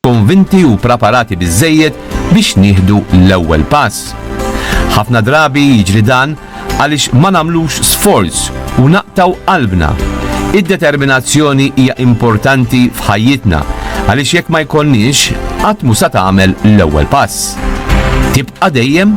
konvinti u praparati biżżejjed biex nieħdu l-ewwel pass. Ħafna drabi jiġri dan għaliex ma nagħmlux sforz u naqtgħu qalbna. Id-determinazzjoni hija importanti f'ħajjitna għaliex jekk ma jkollniex, qatt mhu sa tagħmel l-ewwel pass. Tibqa' dejjem?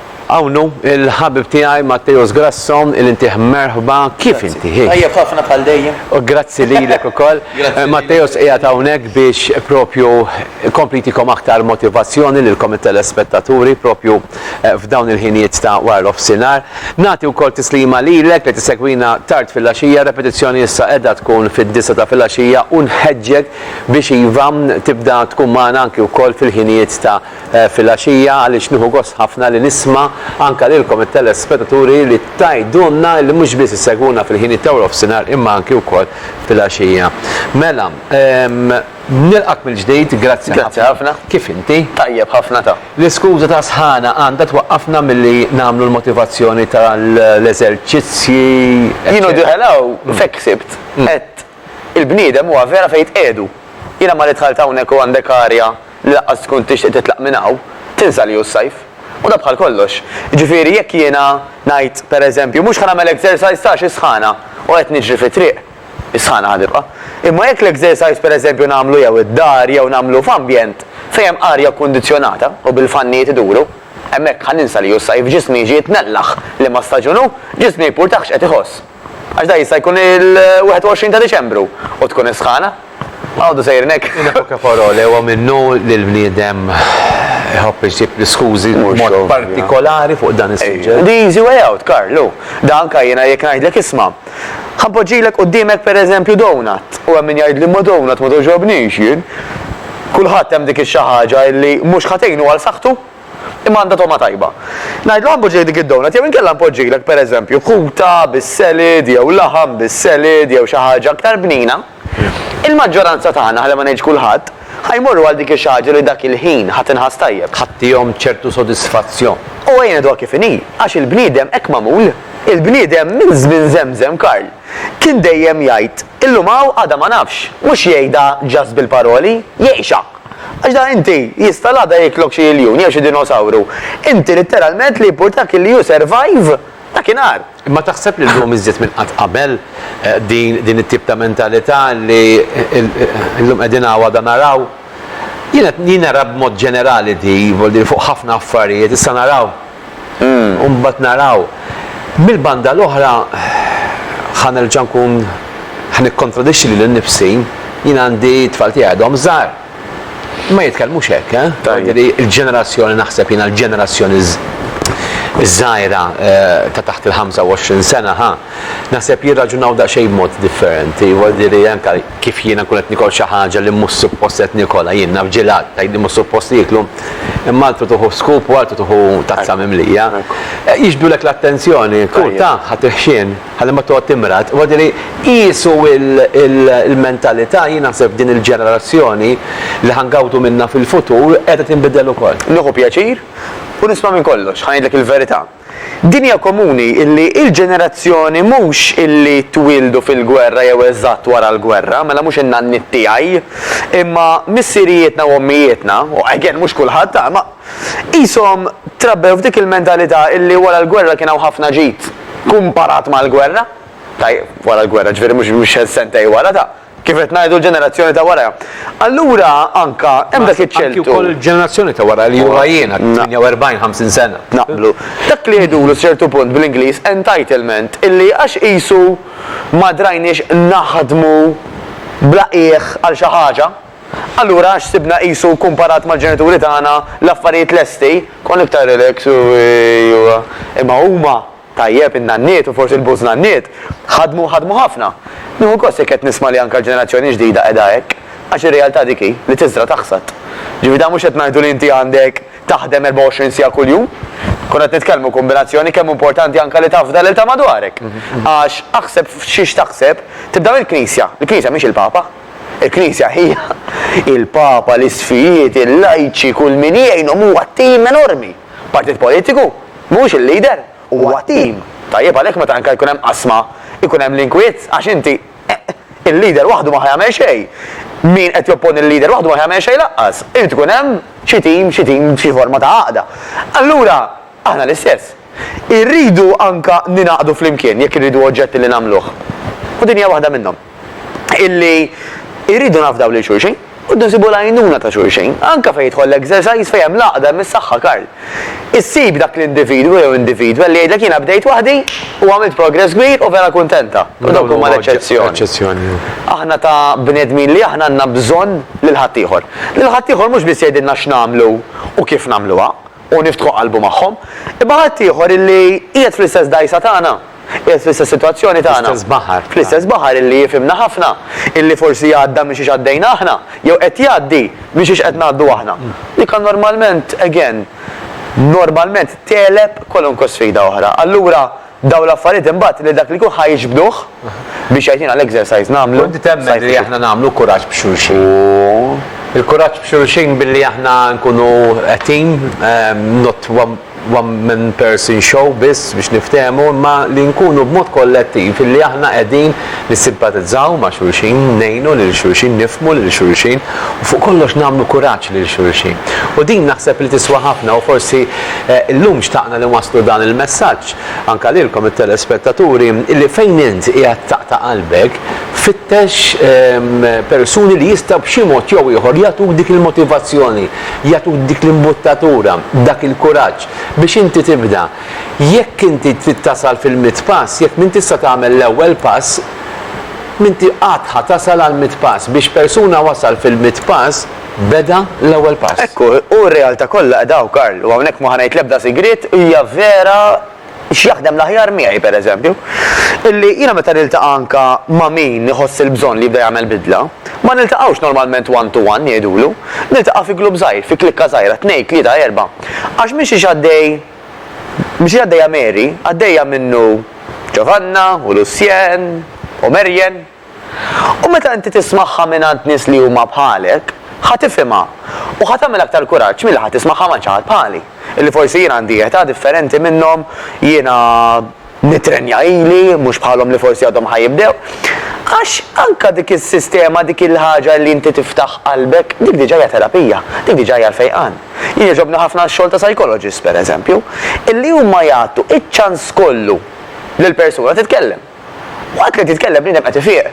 Hawn hu l-ħabib tiegħi Matteus Grasso li ntih merħba kif inti? Tajjeb ħafna bħal dejjem. U grazzi lilek ukoll. Matteus qiegħed hawnhekk biex propju jkompli jtikom aktar motivazzjoni lilkom it-telespettaturi propju f'dawn il-ħinijiet ta' wara l-offsinhar. Nagħti wkoll tislima lilek li tissegwina tard filgħaxija, repetizzjoni issa qiegħda tkun fid-disgħa ta' filgħaxija u nħeġġek biex iva tibda tkun magħna anki wkoll fil-ħinijiet ta' filgħaxija għaliex nieħu gost ħafna li nisma' anke lilkom it-telespetaturi li tgħidulna li mhux biss issegwuna fil-ħinijiet ta' warofsinhar imma anke wkoll filgħaxija. Mela, nilqgħek mill-ġdid, grazzi ħafna. Grazzi ħafna. Kif inti? Tajjeb ħafna ta. L-iskuża ta' sħana għandha twaqqafna milli nagħmlu l-motivazzjoni tal-eżerċizzji eċċetera. Jien u Diħel hawn f'hekk ħsibt, għedt il-bniedem huwa vera fejn jitqiegħdu. Jiena malli dħalt hawnhekk u għandek arja li laqqas tkun tixtieq titlaq minn hawn, tinsa li hu s-sajf. U dan bħal kollox. Jiġifieri jekk jiena ngħid, per eżempju, mhux ħa nagħmel exercise ta' għax is-sħana u qed niġri fit-triq, is-sħana ħa tibqa'. Imma jekk l-exercise per eżempju nagħmlu jew id-dar jew nagħmlu f'ambjent fejn hemm arja kkundizzjonata u bil-fannijiet iduru, hemmhekk ħa ninsa li hu s-sajf, ġismi jiġi jitnellaħ liema staġun hu, ġismi jipurtah x'qed iħoss. Għax dak jista' jkun il-21 ta' Diċembru u tkun is-sħana. Għodu sejrin hekk. In epoca parole huwa minnu li l-bniedem iħobb iġib l-iskużi b'mod partikolari fuq dan is-suġġett. The easy way out, Karl, hu da anke jiena jekk ngħidlek isma', ħa npoġġilek quddiemek pereżempju donut u hemm min jgħidli ma donut ma togħġobnix jien. Kulħadd hemm dik ix-xi ħaġa illi mhux ħa tgħinu għal saħħtu. Imma għandha togħma tajba. Ngħidlu Għambu ġej dik id-donut jew inkella npoġġilek, pereżempju, kuta bis-selid jew laħam bis-selid jew xi ħaġa aktar bnina, il-maġġoranza tagħna, ħalli ma ngħidx kulħadd, ħa jmorru għal dik ix-xi ħaġa li dak il-ħin ħa tinħass tajjeb. Ħa tihom ċertu sodisfazzjon. U ejja ngħiduha kif inhi, għax il-bniedem hekk magħmul. Il-bniedem minn żmien żemżem, Karl, kien dejjem jgħid, illum hawn għada ma nafx. Mhux jgħidha just bil-paroli, jgħixha. Għax da inti, jista' l-għada jiklok xi iljun jew xi dinosawru. Inti litteralment li jimpurtak li you survive dakinhar. Imma taħseb li llum iżjed minn qatt qabel din din it-tip ta' mentalità li llum qegħdin hawn għada naraw? Jien qed jien nara b'mod ġenerali di, voli fuq ħafna affarijiet, issa naraw. u mbagħad naraw. Mill-banda l-oħra ħa nerġa' nkun ħa nikkontradixxi lili nnifsi, jien għandi t-tfal tiegħi għadhom żgħar. Ma jitkellmux hekk, jiġifieri l-ġenerazzjoni naħseb jiena l-ġenerazzjoni ż-żgħira ta' taħt il-25 sena ħa naħseb jirraġunaw daqsxejn b'mod differenti, jiġifieri anke. kif jiena nkun qed nikol xi ħaġa li mhux suppost qed nikolha, jien naf ġilat, tgħidli mhux suppost tieklu, imma altru tieħu scoop u altru tieħu tazza mimlija. Jixbdulek l-attenzjoni, kun taf ħadd il-ħxien ħalli ma toqgħod timrad. Huwa dirhi qiesu l-mentalità jien naħseb din il-ġenerazzjoni li ħa ngawdu minnha fil-futur qiegħda tinbidel ukoll. Nieħu pjaċir u nisma' minn kollox, ħa ngħidlek il-verità. Dinja komuni illi il-ġenerazzjoni mhux illi twieldu fil-gwerra jew eżatt wara l-gwerra, mela mhux in-nanniet tiegħi, imma missirijietna u ommijietna, u again mhux kulħadd ha, imma qishom trabbew f'dik il-mentalità illi wara l-gwerra kien hawn ħafna ġid kumparat mal-gwerra, tajjeb, wara l-gwerra, ġifieri mhux sentej wara, ta. Kif qed ngħidu l-ġenerazzjoni ta' wara. Allura anka hemm dak iċ-ċeltu. Anki wkoll il-ġenerazzjoni ta' wara li huwa jiena 48, 50 sena. Naqblu. Dak li jgħidulu ċertu punt bl-Ingliż entitlement illi għax qisu ma drajniex naħdmu bla qiegħ għal xi ħaġa, allura għax sibna qisu kumparat mal-ġenituri tagħna l-affarijiet lesti, konna iktar relax u imma huma Tajjeb, in-nanniet u forsi l-bużnanniet ħadmu u ħadmu ħafna. Nieħu gost jekk qed nisma' li anke l-ġenerazzjoni ġdida qiegħda hekk, għax ir-realtà dik hi, li tiżra' taħsad. Ġifieri dan mhux qed ngħidu li inti għandek taħdem 24 siegħa kuljum. Konna qed nitkellmu kombinazzjoni kemm hu importanti anke li tafda lil ta' madwarek. Għax aħseb f'xi x'taħseb, tibda mill-Knisja. Il-Knisja mhix il-Papa. Il-Knisja hija il-Papa, l-isqfijiet, il-lajċi, kull min jgħinhom huwa tim enormi. Partit politiku mhuwiex il-leader, huwa tim. Tajjeb għalhekk meta anke jkun hemm qasma jkun hemm l-inkwiet għax inti il-leader waħdu ma ħa jagħmel xejn. Min qed jopponi l-leader waħdu ma ħa jagħmel xejn lanqas. Irid ikun hemm xi tim, xi tim, xi forma ta' għaqda. Allura aħna l-istess. Irridu anke ningħaqdu flimkien jekk irridu oġġetti li nagħmluh. U din hija waħda minnhom. illi irridu nafdaw lil xulxin u rridu nsibu l-għajnuna ta' xulxin, anke fejn jidħol l-exercise fejn hemm l-għaqda, hemm is-saħħa Karl. Issib dak l-individwu jew individwa li jgħidlek jiena bdejt waħdi u għamilt progress kbir u vera kuntenta. U dawk huma l-eċċezzjoni. Aħna ta' bnedmin li aħna għandna bżonn lil ħaddieħor. Lil ħaddieħor mhux biss jgħidilna x'nagħmlu u kif nagħmluha u niftħu qalbu magħhom, imma ħaddieħor illi qiegħed fl-istess dgħajsa tagħna. Qiegħed fl-istess sitwazzjoni tagħna. Fl-istess baħar. Fl-istess baħar illi jifhimna ħafna, illi forsi għadda minn xiex għaddejna aħna, jew qed jgħaddi minn xiex qed ngħaddu aħna. Li kan normalment, again, normalment tegħleb kwalunkwe sfida oħra. Allura, dawn l-affarijiet imbagħad lil dak li jkun ħa jiġbduh biex jgħidilna l-exercise nagħmlu. U inti temmen li aħna nagħmlu kuraġġ b'xulxin. Il-kuraġġ b'xulxin billi aħna nkunu a team, not one. one man person show biss biex niftehmu imma li nkunu b'mod kollettiv illi aħna qegħdin nissimpatizzaw ma' xulxin, ngħinu lil xulxin, nifhmu lil xulxin u fuq kollox nagħmlu kuraġġ lil xulxin. U din naħseb li tiswa ħafna u forsi llum xtaqna li nwasslu dan il-messaġġ anke lilkom it-telespettaturi illi fejn int qiegħed taqta' qalbek fittex persuni li jistgħu b'xi mod jew ieħor jagħtuk dik il-motivazzjoni jagħtuk dik l-imbuttatura, dak il-kuraġġ biex inti tibda. Jekk inti trid tasal fil-mitt pass, jekk m'intix se tagħmel l-ewwel pass, m'inti qatt ħa tasal għall-mitt pass. Biex persuna wasal fil-mitt pass, beda l-ewwel pass. Hekk hu, u r-realtà kollha qiegħda hawn, Karl, u hawnhekk ma ħa ngħid l-ebda sigriet, hija vera. x'jaħdem l-aħjar miegħi, pereżempju, illi jiena meta niltaqa' anke ma' min iħoss il-bżonn li jibda jagħmel bidla, ma niltaqgħux normalment one to one ngħidulu, niltaqa' fi glupp żgħir, fi klikka żgħira, tnejn, tlieta, erbgħa, għax minn xiex għaddej, minn xiex għaddejja Mary, għaddejja minnu Ġovanna u Lucien u Marian. U meta inti tismagħha mingħand nies li huma bħalek, ħa tifhimha u ħa tagħmel aktar kuraġġ milli ħa tismagħha ma' xi ħadd bħali, illi forsi jien għandi età differenti minnhom, jiena nitrenja ili, mhux bħalhom li forsi għadhom ħa jibdew. Għax anke dik is-sistema, dik il-ħaġa li inti tiftaħ qalbek, dik diġà hija terapija, dik diġà hija l-fejqan. Jien jogħġobni ħafna x-xogħol ta' psychologists, pereżempju, illi huma jagħtu ċ-ċans kollu lill-persuna titkellem. Waqt li qed jitkellem bniedem qed ifiq.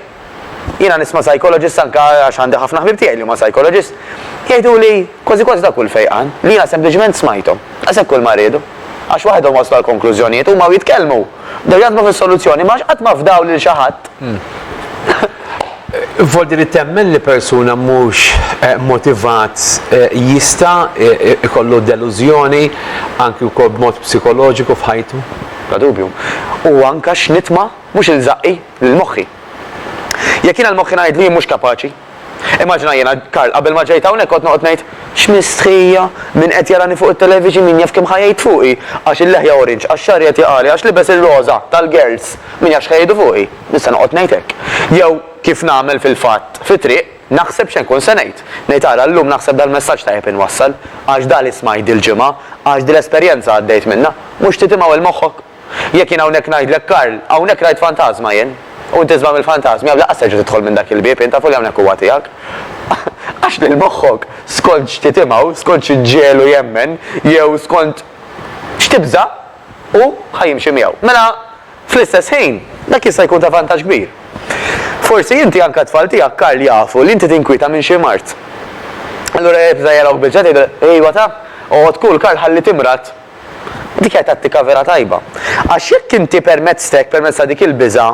Jiena nisma' psychologist anke għax għandi ħafna ħbieb tiegħi li huma psychologist, jgħiduli kważi kważi dawk kull fejqan li jiena sempliċement smajthom. Daqshekk kull ma riedu. Għax waħedhom waslu għal konklużjonijiet, huma u jitkellmu, bdew jaħdmu fis-soluzzjoni imma għax qatt ma fdaw lil xi ħadd. Voldi li temmen li persuna mhux motivat jista' jkollu delużjoni anki wkoll b'mod psikoloġiku f'ħajtu? Bla dubju. U anka x'nitma mhux ilżaqi lil moħħi. Jekk jiena l-moħħi ngħidlu jien mhux kapaċi. Immaġina jiena, Karl, qabel ma ġejt hawnhekk kont noqgħod ngħid, X'mistħija! Min qed jarani fuq it-television min jaf kemm ħa jgħid fuqi! Għax il-leħja orange, għax xagħri qed jaqagħli, għax libes ir-roża tal-girls, min jaf x'ħa jgħidu fuqi! Nista' noqgħod ngħid hekk. Jew kif nagħmel fil-fatt fit-triq. Naħseb x'se nkun se ngħid. Ngħid ara llum naħseb dal-messaġġ tajjeb inwassal, għax dak li smajt dil-ġimgħa, għax dil-esperjenza għaddejt minnha, mhux trid imawwel moħħok? Jekk jien hawnhekk ngħidlek Karl, hawnhekk rajt fantażma jien, u inti żball mill-fantażmi hawn lanqas terġa' tidħol minn dak il-bieb jien tafu li hawnhekk huwa tiegħek. Għax lil moħħok, skont x'trid imgħu, skont x'ġiegħlu jemmen, jew skont x'tibża', hu ħa jimxi miegħu. Mela. Fl-istess ħin, dak jista' jkun ta' vantaġġ kbir. Forsi inti, anke t-tfal tiegħek, Karl, jafu li inti tinkwieta minn xi mard. Allura jekk bża' jarawk biċċa tgħidilhom, Ejwa ta, oqgħod cool, Karl, ħalli timrad. Dik hija tattika vera tajba. Għax jekk inti permezz t'hekk, permezz ta' dik il-biża',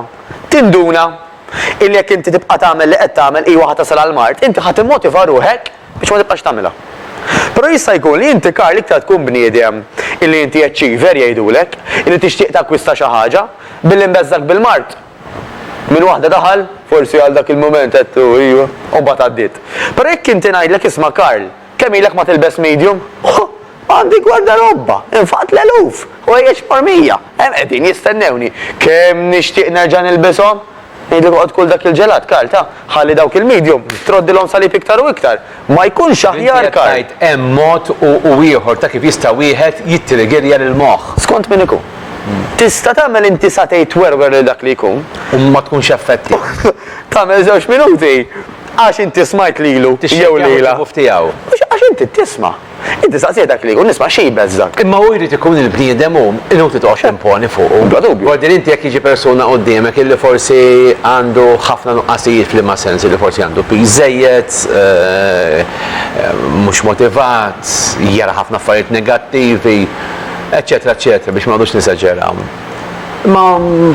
tinduna illi jekk inti tibqa' tagħmel li qed tagħmel, ejwa ħa tasal għall-mard, inti ħa timmotiva ruħek biex ma tibqax tagħmilha. Però jista' jkun li inti Karl iktar tkun bniedem illi inti achiever jgħidulek, illi tixtieq takkwista xi ħaġa, billi mbeżżgħek bil-mard minn waħda daħal, forsi għal dak il-mument għedtlu iju u mbagħad għaddiet. Però jekk inti ngħidlek isma' Karl, kemm ilek ma tilbes medium? Huh! Għandi gwardarobba infaqt l-eluf ħwejjeġ mormija. Hemm qegħdin jistennewni. Kemm nixtieq nerġa' nilbishom! Ngħidlek oqgħod kul dak il-ġelat, Karl, ta? Ħalli dawk il-medium troddilhom salib iktar u iktar. Ma jkunx aħjar, Karl? Inti qed tgħid hemm mod u ieħor ta' kif jista' wieħed jittriggerja lill-moħħ. Skont min ikun. Tista' tagħmel inti satej twerwer lil dak li jkun. U ma tkunx effettiv. Tagħmel żewġ minuti għax inti smajt lilu jew lilha. Tixxekk jaħu t-tifuf tiegħu. Mhux għax inti tisma'. Inti staqsejt dak li jkun isma' xi jbeżżgħek. Imma hu jrid ikun il-bniedem hu, inutli toqgħodx timponi fuqu. Bla dubju. Gordin inti jekk jiġi persuna quddiemek illi forsi għandu ħafna nuqqasijiet f'liema sens, illi forsi għandu piż żejjed, mhux motivat, jara ħafna affarijiet negattivi, eċċetera eċċetera biex ma noqgħodux neżaġeraw. Imma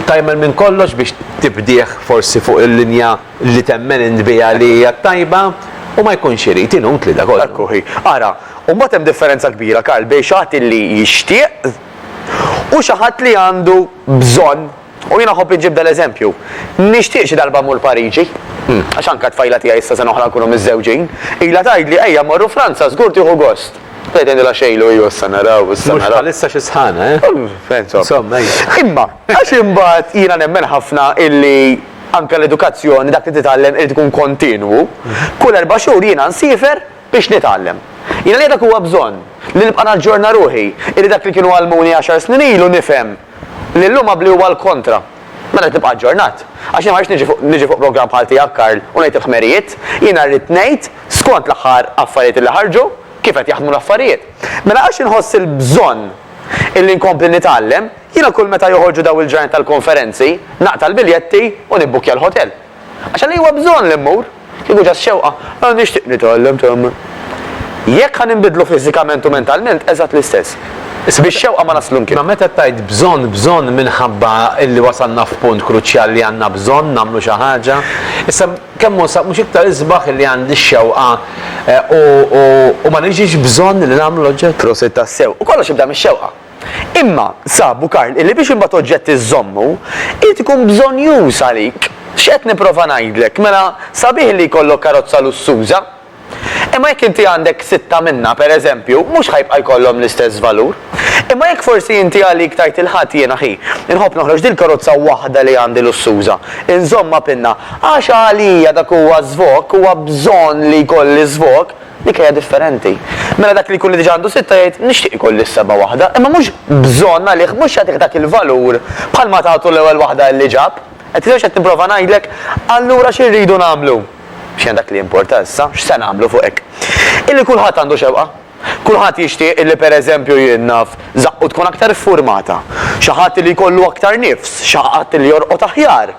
tagħmel minn kollox biex tibdih forsi fuq il-linja. li temmen int biha li hija t-tajba, u ma jkunx irid, inutli da kollu. Hekk hi. Ara, u mbagħad hemm differenza kbira, Karl, bejn xi ħadd li jixtieq u xi ħadd li għandu bżonn. U jiena nħobb inġib dal-eżempju. Nixtieq xi darba mmur Pariġi, għax anke t-tfajla tiegħi issa sena oħra nkunu miżżewġin, ilha tgħidli ejja mmorru Franza żgur tieħu gost. Bdejt ngħidilha xejlu iju issa naraw, issa naraw. Mhux bħalissa xi sħana, eh? Insomma. Insomma, ejja. Imma għax imbagħad jiena nemmen ħafna illi, Anke l-edukazzjoni, dak li titgħallem irid ikun kontinwu. Kull erba' xhur jiena nsiefer biex nitgħallem. Jiena li dak huwa bżonn, li nibqa' naġġorna ruħi, illi dak li kienu għallmuni għaxar snin ilu nifhem li llum għabbli huwa l-kontra. Mela rrid nibqa' aġġornat. Għax jiena ma rridx niġi fuq niġi fuq programm bħal tiegħek Karl u ngħid il-ħmerijiet. Jiena rrid ngħid skont l-aħħar affarijiet illi ħarġu, kif qed jaħdmu l-affarijiet. Mela għax inħoss il-bżonn illi nkompli nitgħallem, Jiena kull meta joħorġu dawn il-ġranet tal-konferenzi, naqta' l-biljetti u nibbukkja l-ħotel. Għax għaliex huwa bżonn li mmur? Kieku ġa x-xewqa, ah nixtieq nitgħallem temmen. Jekk ħa ninbidlu fiżikament u mentalment, eżatt l-istess. Bix-xewqa ma naslu mkien. Imma meta tgħid bżonn, bżonn minħabba illi wasalna f'punt kruċjal li għandna bżonn nagħmlu xi ħaġa. Issa kemm hu sa mhux iktar isbaħ illi għandi x-xewqa u ma niġix bżonn li nagħmlu l-oġġett? Prosit tassew. U kollox jibda mix-xewqa. Imma, sabu Karl, illi biex imbagħad oġġett iżżommu, irid ikun bżonnjuż għalik. X'qed nipprova ngħidlek? Mela, sabiħ li jkollok karozza lussuża. Imma jekk inti għandek sitta minnha, per eżempju, mhux ħa jibqa' jkollhom l-istess valur. Imma jekk forsi inti għalik tgħid il-Ħadd jiena ħi, inħobb noħroġ dil-karozza waħda li għandi lussuża, inżommha pinna, għax għalija dak huwa żvok, huwa bżonn li jkolli żvok, Dik hija differenti. Mela dak li jkun li diġà għandu sitta jgħid, nixtieq ikolli s-seba' waħda, imma mhux bżonn għalih, mhux jagħtih dak il-valur bħalma tagħtu l-ewwel waħda li ġab. Qed tifhem x'qed nipprova ngħidlek? Allura xi rridu nagħmlu? X'inhi dak li jimporta issa? X'se nagħmlu fuq hekk? Illi kulħadd għandu xewqa. Kulħadd jixtieq illi pereżempju jien naf, żaqqu tkun aktar iffurmata, xi ħadd li jkollu aktar nifs, xi ħadd li jorqod aħjar.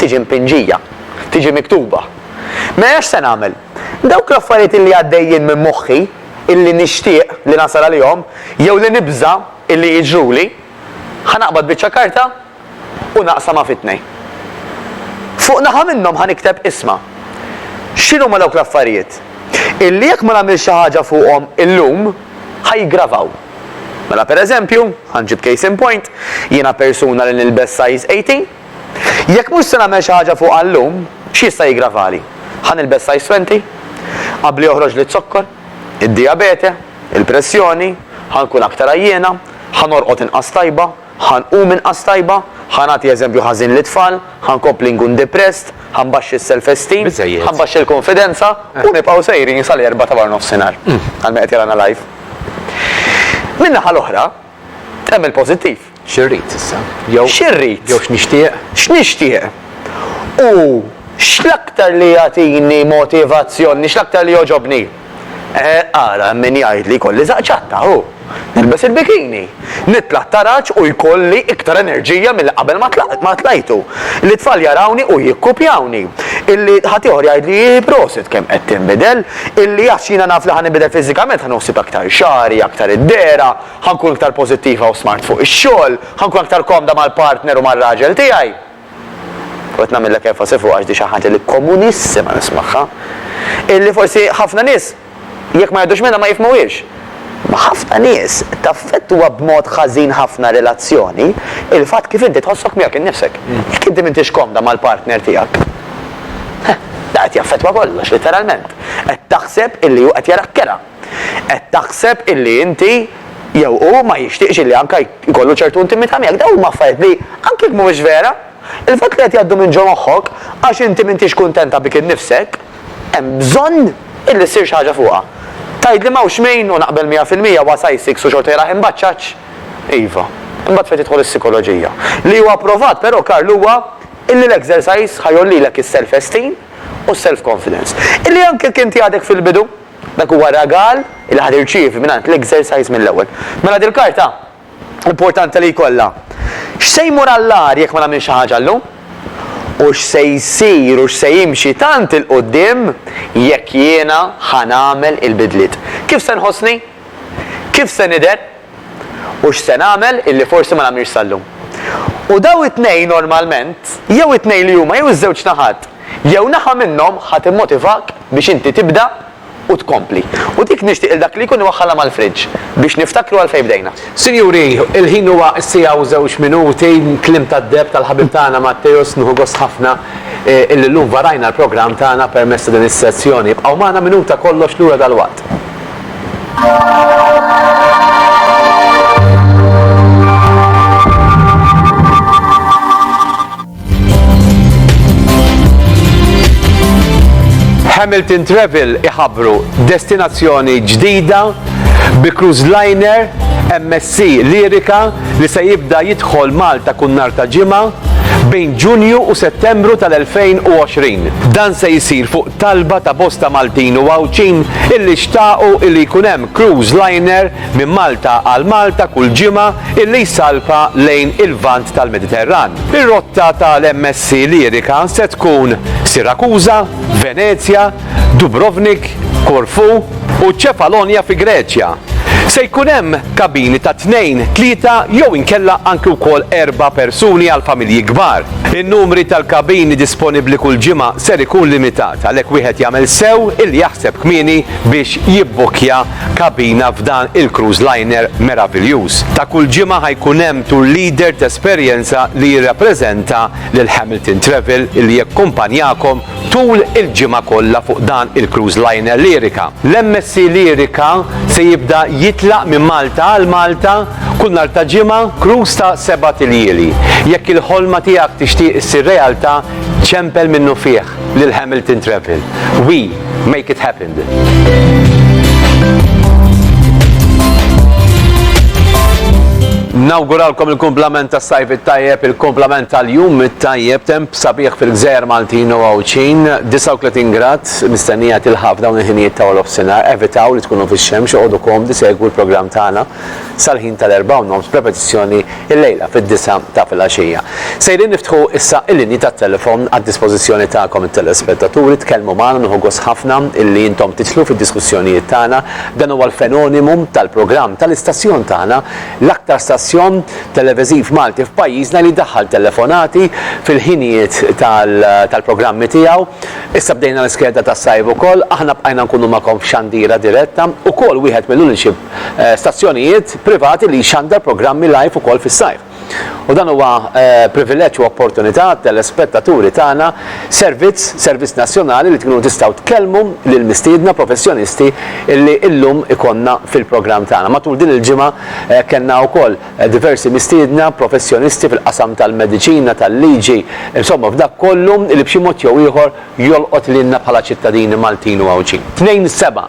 tiġi mpinġija, tiġi miktuba. Mela x'se nagħmel? Dawk l-affarijiet illi għaddejjin minn moħħi, illi nixtieq li nasal għalihom, jew li nibża' illi jiġruli, ħa naqbad biċċa karta u naqsamha fi tnejn. Fuq naħa minnhom ħa nikteb isma'. X'inhuma dawk l-affarijiet? Illi jekk ma nagħmilx xi ħaġa fuqhom illum, ħa jiggravaw. Mela pereżempju, ħa nġib case in point, jiena persuna li nilbes size 18, Jekk mhux se nagħmel xi ħaġa fuqha llum, x'jista' jiggravali? Ħa nilbes size twenty? Qabli joħroġli z-zokkor? Id-dijabete? Il-pressjoni? Ħa nkun aktar għajjiena? Ħa norqod inqas tajba? Ħa nqum inqas tajba? Ħa nagħti eżempju ħażin lit-tfal? Ħa nkompli nkun depressed? Ħa nbaxxi s-self-esteem? Biżżejjed. Ħa nbaxxi l-kunfidenza? U nibqgħu sejrin sal-erbgħa ta' waranofsinhar, għal min qed jarana live. Min-naħa l-oħra, Hemm il-pożittiv. Xi rrid issa? Jew. Xi rrid? Jew x'nixtieq? X'nixtieq? U x'l-aktar li jagħtini motivazzjoni, x'l-aktar li jogħġobni? Eh, ara, hemm min jgħid li jkolli żaqq ċatta, hu. Nilbes il-bikini. Nitla' t-taraġ u jkolli iktar enerġija milli qabel ma tlajtu. Li t-tfal jarawni u jikkupjawni. Illi ħaddieħor jgħidli, prosit kemm qed tinbidel. Illi għax jiena naf li ħa ninbidel fiżikament, ħa noħsib aktar xagħri, aktar id-dehra, ħa nkun iktar pożittiva u smart fuq ix-xogħol, ħa nkun aktar komda mal-partner u mar-raġel tiegħi. U qed nagħmillek enfasi fuqha għax di xi ħaġa li komunissima nismagħha. Illi forsi ħafna nies jekk ma jgħoddux minnha ma jifhmuhiex. Ma' ħafna nies taffettwa b'mod ħażin ħafna relazzjoni il-fatt kif inti tħossok miegħek innifsek. Jekk inti m'intix komda mal-partner tiegħek, da qed jaffettwa kollox, litteralment. Qed taħseb illi hu qed jarak kerha. Qed taħseb illi inti jew hu ma jixtieqx illi anke jkollu ċertu intimità miegħek. Dawn huma affarijiet li, anke jekk mhumiex vera, il-fatt li qed jgħaddu minn ġo moħħok għax inti m'intix kuntenta bik innifsek, hemm bżonn illi ssir xi ħaġa fuqha. Tgħidli m'hawnx min, u naqbel mija fil-mija, huwa sajsiks u xorta jrah imbaċċaċ? Iva. Imbagħad fejn tidħol is-sikoloġija. Li huwa pprovat però, Karl, huwa illi l-exercise ħa jgħollilek is-self esteem u s-self confidence. Illi anke jekk inti għadek fil-bidu, dak huwa ragal illi ħa tirċievi mingħand l-exercise mill-ewwel. Mela dil-karta? importanti li jkollha. X'se jmur għall-agħar jekk ma nagħmilx xi ħaġa llum? U x'se jsir u x'se jimxi tant 'il quddiem jekk jiena ħa nagħmel il-bidliet? Kif se nħossni? Kif se nidher? U x'se nagħmel illi forsi ma nagħmilx sal-lum? U dawn it-tnejn normalment, jew it-tnejn li huma jew iż-żewġ naħat, jew naħa minnhom ħa timmotivak biex inti tibda U tkompli. U dik nixtieq lil dak li jkun iwaħħalha mal-fridge, biex niftakru għalfejn bdejna. Sinjuri, il-ħin huwa s-siegħa u żewġ minuti, kliem tad-deheb tal-ħabib tagħna Matteus, nieħu gost ħafna illi llum varajna l-programm tagħna permezz ta' din is-sezzjoni. Ibqgħu magħna minuta kollox lura dalwaqt. Hamilton Travel iħabru destinazzjoni ġdida bi cruise liner MSC Lirika li se jibda jidħol Malta kun nar ta' ġimgħa bejn Ġunju u Settembru tal-2020. Dan se jsir fuq talba ta' bosta Maltin u Għawdxin illi xtaqu illi jkun hemm cruise liner minn Malta għal Malta kull ġimgħa illi jsalpa lejn il-Lvant tal-Mediterran. Ir-rotta tal-MSC Lyrica se tkun Sirakuża, Venezja, Dubrovnik, Korfu u Ċefalonja fi Greċja. Se jkun hemm kabini ta' tnejn, tlieta jew inkella anki wkoll erba' persuni għal familji kbar. In-numri tal-kabini disponibbli kull ġimgħa ser ikun limitat għalhekk wieħed jagħmel sew illi jaħseb kmieni biex jibbukkja kabina f'dan il-cruise liner meraviljuż. Ta' kull ġimgħa ħa jkun hemm tour leader t'esperjenza li jirrappreżenta lil Hamilton Travel li jakkumpanjakom tul il-ġimgħa kollha fuq dan il-cruise liner Lyrica. L-MSC Lyrica se jibda jitlaq minn Malta għal Malta kull nhar ta' ġimgħa, cruise ta' sebat iljieli. Jekk il-ħolma tiegħek tixtieq issir realtà, ċempel minnufih. lil Hamilton Travel. We make it happened. Nawguralkom il-kumplament tas sajf it-tajjeb, il-kumplament tal-jum it-tajjeb, temp sabiħ fil-gżejjer Maltin u Għawdxin, 39 grad, mistennija tilħaf dawn il-ħinijiet ta' Olof Sinar, evitaw li tkunu fix-xemx, għodu komdi segwu l-programm tagħna sal-ħin tal-erba' u nofs b'repetizzjoni Illejla fid-disgħa ta' filgħaxija. Sejrin niftħu issa il-linji tat-telefon għad-dispożizzjoni tagħkom it-telespettaturi, tkellmu magħna nieħu gost ħafna illi intom tidħlu fid-diskussjonijiet tagħna. Dan huwa l-fenonimu tal-programm tal-istazzjon tagħna, l-aktar stazzjon televeżiv Malti f'pajjiżna li jdaħħal telefonati fil-ħinijiet tal-programmi tiegħu. Issa bdejna l-iskeda tas-sajf ukoll, aħna bqajna nkunu magħkom f'xandira diretta, ukoll wieħed mill-uniċi stazzjonijiet privati li jxandar programmi live ukoll fis-sajf. U dan huwa privileġġ u opportunità għat-telespettaturi tagħna servizz, servizz nazzjonali li tkunu tistgħu tkellmu lill-mistiedna professjonisti li llum ikollna fil-programm tagħna. Matul din il-ġimgħa kellna wkoll diversi mistiedna professjonisti fil-qasam tal-mediċina, tal-liġi, insomma f'dak kollu li b'xi mod jew ieħor jolqot lilna bħala ċittadini Maltin u Għawdxin. Tnejn 7.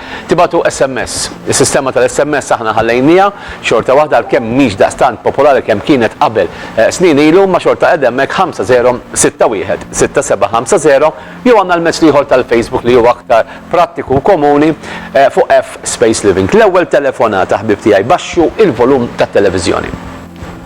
Tibagħtu SMS. Is-sistema tal-SMS aħna ħallejniha, xorta waħda għalkemm mhix daqstant popolari kemm kienet qabel snin ilu imma xorta qiegħda hemmhekk 50616750 jew għandna l-mezz l-ieħor tal-Facebook li huwa aktar prattiku u komuni fuq F Space Living. L-ewwel telefonata ħbieb tiegħi baxxu il-volum tat-televiżjoni.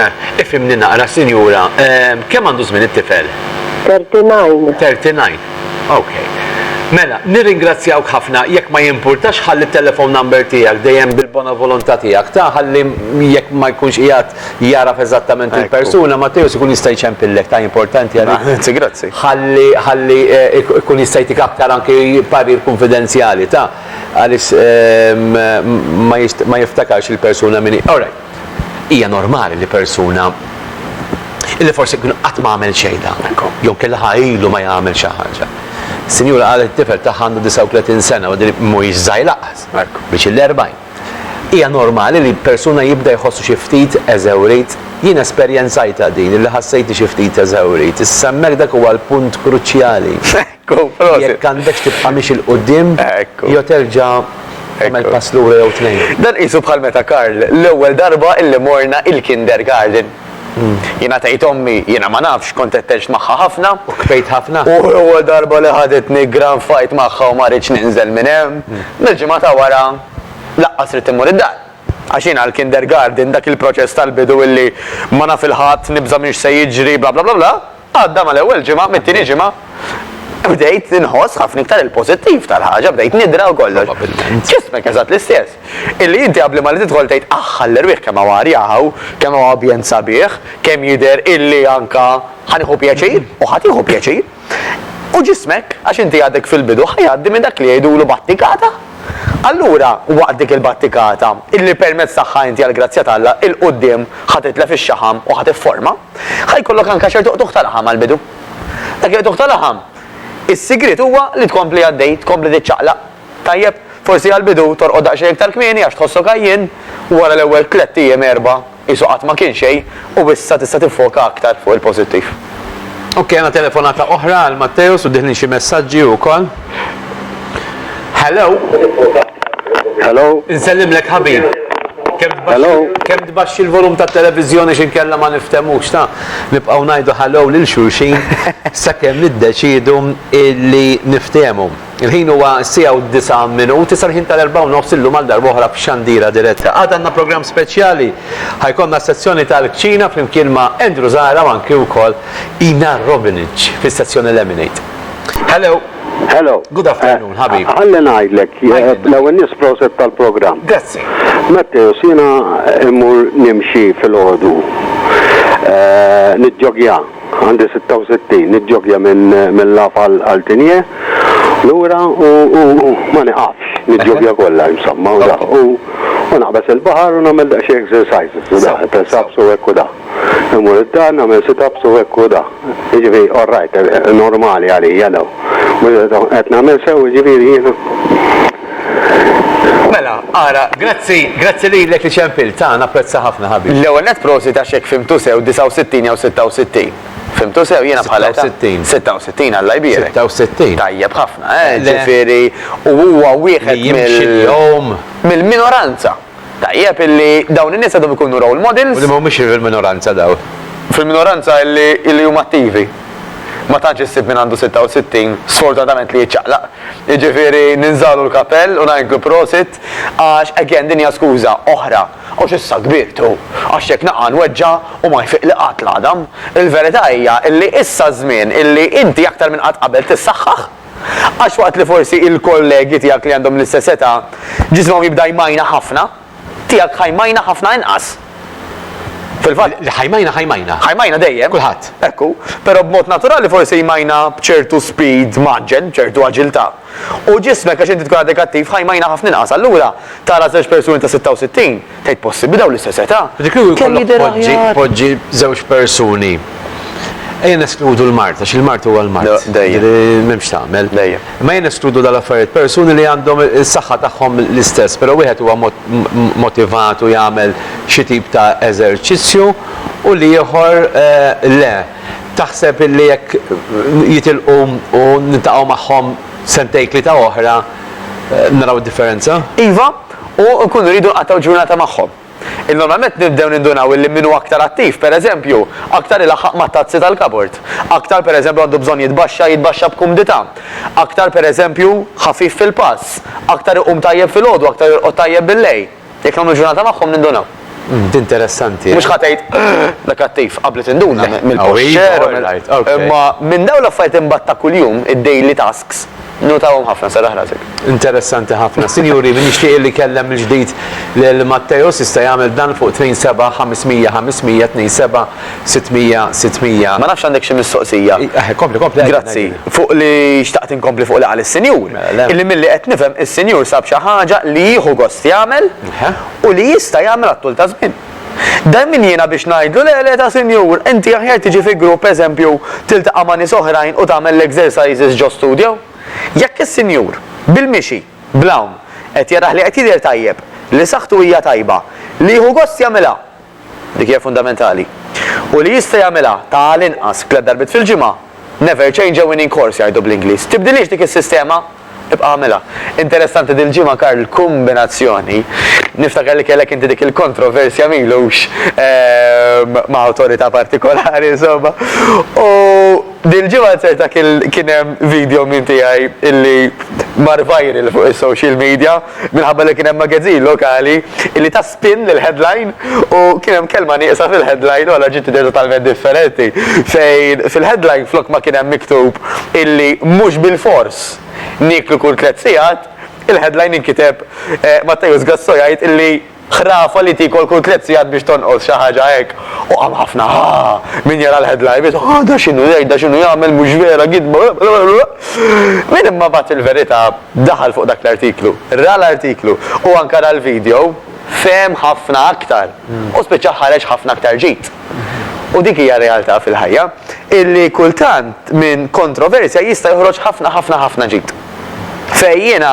Eh, ifhimni naqra, sinjura, ehm, kemm għandu żmien it-tifel? 39. 39. Ok. Mela, nirringrazzjawk ħafna jekk ma jimpurtax ħalli t-telephone number tiegħek dejjem bil-bona volontà tiegħek ta' ħalli jekk ma jkunx qiegħed jaraf eżattament il-persuna Matteus ikun jista' jċempillek ta' importanti għalik. Grazzi, grazzi. Ħalli ħalli eh, ik- ikun jista' jtik aktar anki parir kunfidenzjali ta' għaliex ehm, ma jist- ma jiftakarx il-persuna minni. Alright. Hija normali li persuna illi forsi kien qatt ma għamel xejn daqshekk, jew kien laħa ilu ma jagħmel xi ħaġa. Sinjura qalet it-tifel tagħha għandu 39 sena u din mhuwiex żgħir laqas, biex il-40. Hija normali li persuna jibda jħossu xi ftit eżewrit. Jien esperjenzajtha din illi ħassejtni xi ftit eżewrit. Issa hemmhekk dak huwa l-punt kruċjali. Jekk għandekx tibqa' miexi 'l quddiem jew terġa' tagħmel pass lura jew tnejn. Dan qisu bħal meta Karl l-ewwel darba illi morna il-kindergarten. Jiena tgħid ommi, jiena ma nafx, kont qed tgħix magħha ħafna. U kbejt ħafna? U l-ewwel darba li ħaditni grand fight magħha u ma ridtx ninżel minn hemm. Mill-ġimgħa ta' wara laqqas ridt immur id-dar. Għax jiena l-kindergarten, dak il-proċess tal-bidu illi ma naf 'il ħadd, nibża' minn x'se jiġri, bla bla bla bla. Għadda mal-ewwel ġimgħa, mit-tieni ġimgħa bdejt inħoss ħafna iktar il-pożittiv tal-ħaġa, bdejt nidra u kollox. Probabbilment. Ġismek eżatt l-istess. Illi inti qabli ma li tidħol tgħid aħ għall-erwieħ kemm hawn arja hawn, kemm hawn ambjent sabiħ, kemm jidher illi anka ħa nieħu pjaċir u ħa tieħu pjaċir. U ġismek, għax inti għadek fil-bidu, ħa jgħaddi minn dak li jgħidulu battikata. Allura, waqt dik il-battikata, illi permezz tagħha inti għall-grazzja t'Alla 'l quddiem ħa titlef ix-xaħam u ħa tifforma, ħa jkollok anke ċertu qtugħ ta' laħam għall-bidu. Dak il-qtugħ ta' laħam, is-sigriet huwa li tkompli għaddej, tkompli tiċċaqlaq. Tajjeb, forsi għall-bidu torqod daqsxejn iktar kmieni għax tħossok għajjien, wara l-ewwel tlett ijiem, erbgħa, Qisu qatt ma kien xejn u issa tista' tiffoka aktar fuq il-pożittiv. Ok għandna telefonata oħra għal Matteus u diħlin xi messaġġi wkoll. Hello. Hello. Insellimlek ħabib. Kemm tbaxxi Hello. kemm tbaxxi l-volum tat-televiżjoni x'inkella ma nifthemux ta'. Nibqgħu ngħidu hello lil xulxin sakemm niddeċiedu illi niftehmu. Il-ħin huwa s-siegħa u d-disgħa minut, issa l-ħin tal-erbgħa u nofs illum għal darba oħra b'xandira diretta. Għada għandna programm speċjali. Ħa jkollna s-sezzjoni tal-kċina flimkien ma' Andrew Zahra u anki wkoll Ina Robinage fis-sezzjoni Lemonade. Hello! Hello. Good afternoon, eh, ħabib. Għalli ngħidlek, eh, l-ewwel nies proset tal-programm. Grazzi. Matteo, sina immur nimxi fil-ħodu. Eh, Nidġogja. Għandi 66, niġġoggja minn Mella f'Al Altinje lura u ma niqafx, niġġoggja kollha insomma u dak. U naqbeż il-baħar u nagħmel daqsxejn exercises u dak, press ups u hekk u dak. Immur id-dar nagħmel sit ups u hekk u dak. Jiġifieri all right, normali għalija dawn. Qed nagħmel sew jiġifieri jiena? Mela, ara, grazzi, grazzi lilek li ċempiltha, napprezza ħafna ħabib. L-ewwel nett prosit għax jekk fhimtu sew 69 jew 66. Fhimtu sew jiena bħala età. 66. 66 Alla jbierek. 66. Tajjeb ħafna, eh, ġifieri u huwa wieħed mill. Li jimxi l-jum. Mill-minoranza. Tajjeb illi dawn in-nies għadhom ikunu role models. U li ma humiex fil-minoranza dawn. Fil-minoranza illi illi huma attivi. Ma tantx issib min għandu 66, sfortunatament li jiċċaqlaq. Jiġifieri ninżagħlu l-kapell u ngħidlu prosit għax again din hija skuża oħra. Għax issa kbirt u għax jekk naqa' nweġġa' u ma jfiqli qatt l-għadam. Il-verità hija illi issa ż-żmien illi inti aktar minn qatt qabel tissaħħaħ. Għax waqt li forsi il-kollegi tiegħek li għandhom l-istess età ġismhom jibda jmajna ħafna, tiegħek ħa jmajna ħafna inqas. Fil-fatt. Li ħa jmajna ħa jmajna. Ħa jmajna dejjem. Kulħadd. Ekku. Però b'mod naturali forsi jmajna b'ċertu speed mgħaġġel, b'ċertu aġiltà. U ġismek għax inti tkun għadek attiv ħa jmajna ħafna inqas. Allura, tara żewġ persuni ta' 66, Tgħid possibbli dawn l-istess età? Ġifieri kieku jkollok poġġi, poġġi żewġ persuni. Ejja neskludu l-mard, għax il-mard huwa l-mard. No, dejjem. Ġifieri m'hemmx tagħmel. Dejjem. Imma ejja neskludu dawn l-affarijiet, persuni li għandhom is-saħħa tagħhom l-istess, però wieħed huwa motivat u jagħmel xi tip ta' eżerċizzju u l-ieħor le. Taħseb illi jekk jitilqu u niltaqgħu magħhom sentejn tlieta oħra naraw differenza? Iva, u nkunu rridu nqattgħu ġurnata magħhom. Normalment nibdew nindunaw illi min hu aktar attiv, pereżempju, aktar ilaħħaq mat-tazzi tal-kabord, aktar pereżempju għandu bżonn jitbaxxa jitbaxxa b'kumdità, aktar pereżempju ħafif fil-pass, aktar iqum tajjeb filgħodu, aktar jorqod tajjeb billejl. Jekk nagħmlu ġurnata magħhom nindunaw. Umm, d'interessanti. Mhux ħa tgħid, Da kattiv, qabli tinduna mill-posture u mill. Imma minn dawn l-affarijiet imbagħad ta' kuljum, id-daily tasks, notahom ħafna, serraħ rasek. Interessanti ħafna. Sinjuri, min jixtieq illi jkellem mill-ġdid lil Matteo s'issa jagħmel dan fuq 27 500 500 27 600 600. Ma nafx għandek xi mistoqsija. Eħe, kompli, kompli. Grazzi. Fuq li xtaqt inkompli fuq li qal is-Sinjur. Mela le. Illi milli qed nifhem is-Sinjur sab xi ħaġa li jieħu gost jagħmel. Eħe. u li jista' jagħmel għat-tul ta' żmien. Dan min jiena biex ngħidlu le le ta' sinjur, inti aħjar tiġi fi grupp pereżempju tiltaqa' ma' nies oħrajn u tagħmel l-exercises ġo studio? Jekk is-sinjur, bil-mixi, bl-hawn, qed jarah li qed jidher tajjeb, li saħħtu hija tajba, li jieħu gost jagħmilha, Dik hija fundamentali. U li jista' jagħmilha ta' għal inqas tliet darbiet fil-ġimgħa, never change a winning course jgħidu bl-Ingliż. Tibdilhiex dik is-sistema, ibqa' agħmilha. Interessanti dil-ġimgħa Karl kumbinazzjoni, niftakar li kellek inti dik il-kontroversja m'ilux ma' awtorità partikolari insomma. U dil-ġimgħa ċerta kien hemm video minn tiegħi illi mar viral fuq is-social media minħabba li kien hemm magazzin lokali illi Pin lill-headline u kien hemm kelma nieqsa fil-headline u allura ġiet idea totalment differenti. Fejn fil-headline flok ma kien hemm miktub illi mhux bilfors nieklu kull tliet sigħat, il-headline inkiteb Matteus Gassò jgħid illi ħrafa li tiekol kull tliet sigħat biex tonqos, xi ħaġa hekk. U qam ħafna haa! Min jara l-headline biss, haa da x'inhu jgħid, da x'inhu jagħmel, mhux vera, gidba. Min imma bagħat il-verità? Daħal fuq dak l-artiklu, ra l-artiklu u anke ra l-video, fehem ħafna aktar u spiċċa ħareġ ħafna aktar ġid. U dik hija r-realtà fil-ħajja, illi kultant minn kontroversja jista' joħroġ ħafna ħafna ħafna ġid. Fejn jiena,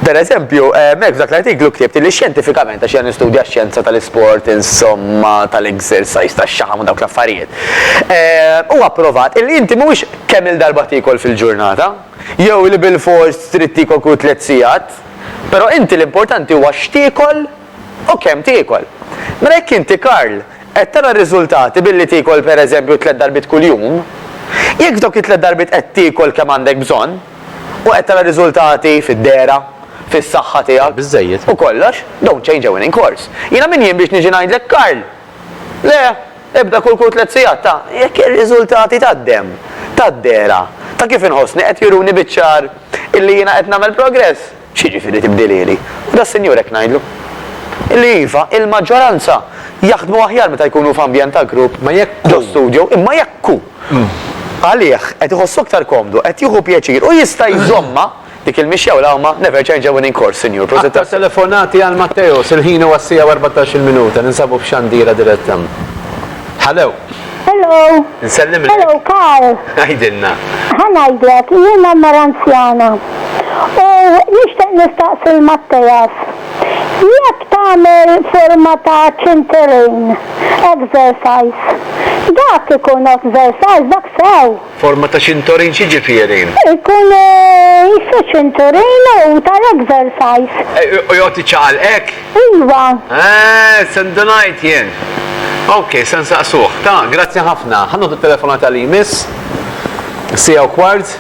per eżempju, hemmhekk f'dak l-artiklu ktibt illi xjentifikament, għax jiena nistudja x-xjenza tal-isport, insomma, tal-exercise, tax-xaħam u dawk l-affarijiet, huwa pprovat illi inti mhuwiex kemm-il darba tiekol fil-ġurnata, Jew li bilfors trid tiekol kull tliet sigħat. Però inti l-importanti huwa x'tiekol u kemm tiekol. Mela jekk inti Karl qed tara r-riżultati billi tiekol pereżempju tliet darbiet kuljum, jekk f'dawk it-tliet darbiet qed tiekol kemm għandek bżonn u qed tara riżultati fid-dehra, fis-saħħa tiegħek u kollox, don't change a winning course. Jiena min jien biex niġi ngħidlek Karl! Le! Ebda kull kull tliet sigħat ta' jekk ir-riżultati tad-demm, tad-dehra, ta' kif inħossni qed juruni biċ-ċar illi jiena qed nagħmel progress. X'jiġifieri tibdilieli? U das-Sinjur hekk ngħidlu. Illi iva, il-maġġoranza jaħdmu aħjar meta jkunu f'ambjent ta' grupp ġo studju, imma jekk hu għalih qed iħossu aktar komdu, qed jieħu pjaċir u jista' jżommha, Dik il-mixja u l-għawma never change a winning course, Sinjur. Prosit Aktar telefonati għal Matteos, il-ħin huwa s-siegħa u erbatax-il minuta, ninsabu f'Xandira diretta. Hello. Hello. Nsellimlek. Hello, Karl. Għidilna. Ħa ngħidlek, jiena mara anzjana. U nixtieq nistaqsi l-Matteas. Jekk tagħmel forma ta' ċinterejn exercise, dak ikun exercise dak sew. Forma ta' ċintorin x'jiġifieri? Ikun issu ċinturin u tal-exercise. U joqgħod iċċaqal hekk? Iva. Eeh, se ndunajt jien. Ok, se nsaqsuh. Ta, grazzi ħafna. Ħa noħdu t-telefonata li jmiss. Siegħa u kwart.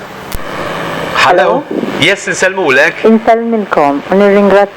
Hello? Yes, insellmulek. Insellmilkom u nirringrazzjakom.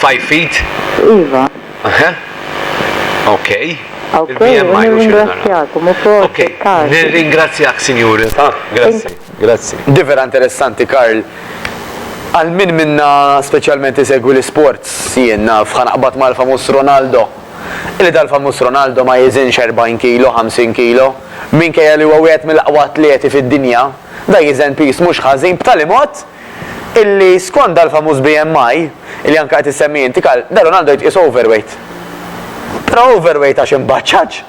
Five feet? Iva. Huh? Okay. Okay, u nirringrazzjakom ukoll. Okay, nirringrazzjak Sinjur. Ah, grazzi. Grazzi. Di vera interessanti Karl. Għal min minna speċjalment isegwi l-isports jien naf ħa naqbad mal-famuż Ronaldo. Illi dal-famuż Ronaldo ma jiżinx 40 kilo, 50 kilo. Minkejja li huwa wieħed mill-aqwa atleti fid-dinja, da jiżen piż mhux ħażin b'tali mod, illi skond dal-famuż BMI, illi anke qed issemmi inti Karl, da Ronaldo jitqies overweight. Però overweight għax imbaċċaġ?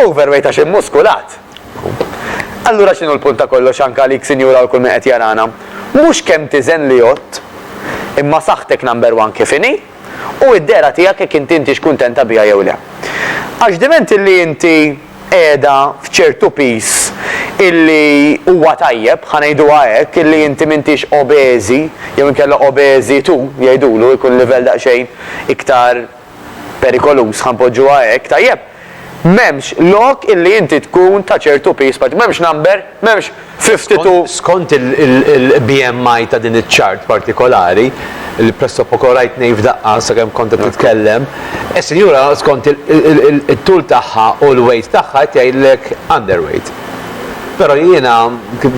Overweight għax immuskulat? Allura x'inhu l-punt ta' kollox anke għalik sinjura u kull min qed jarana? Mhux kemm tiżen li għodt, imma saħħtek number one kif inhi, u d-dehra tiegħek jekk inti intix kuntenta biha jew le. Għax diment illi inti, qiegħda f'ċertu piż illi huwa tajjeb, ħa ngħiduha hekk, illi inti m'intix obeżi jew inkella obeżi tu, jgħidulu, ikun livell daqsxejn iktar perikoluż, ħa npoġġuha hekk, tajjeb? M'hemmx lok illi inti tkun ta' ċertu piż, m'hemmx number, m'hemmx, 52 Skont il-BMI ta' din iċ-chart partikolari, li pressopoko rajt ngħid f'daqqa sakemm kont qed titkellem, is-sinjura skont it-tul tagħha u l-weight tagħha qed jgħidlek underweight. Però jiena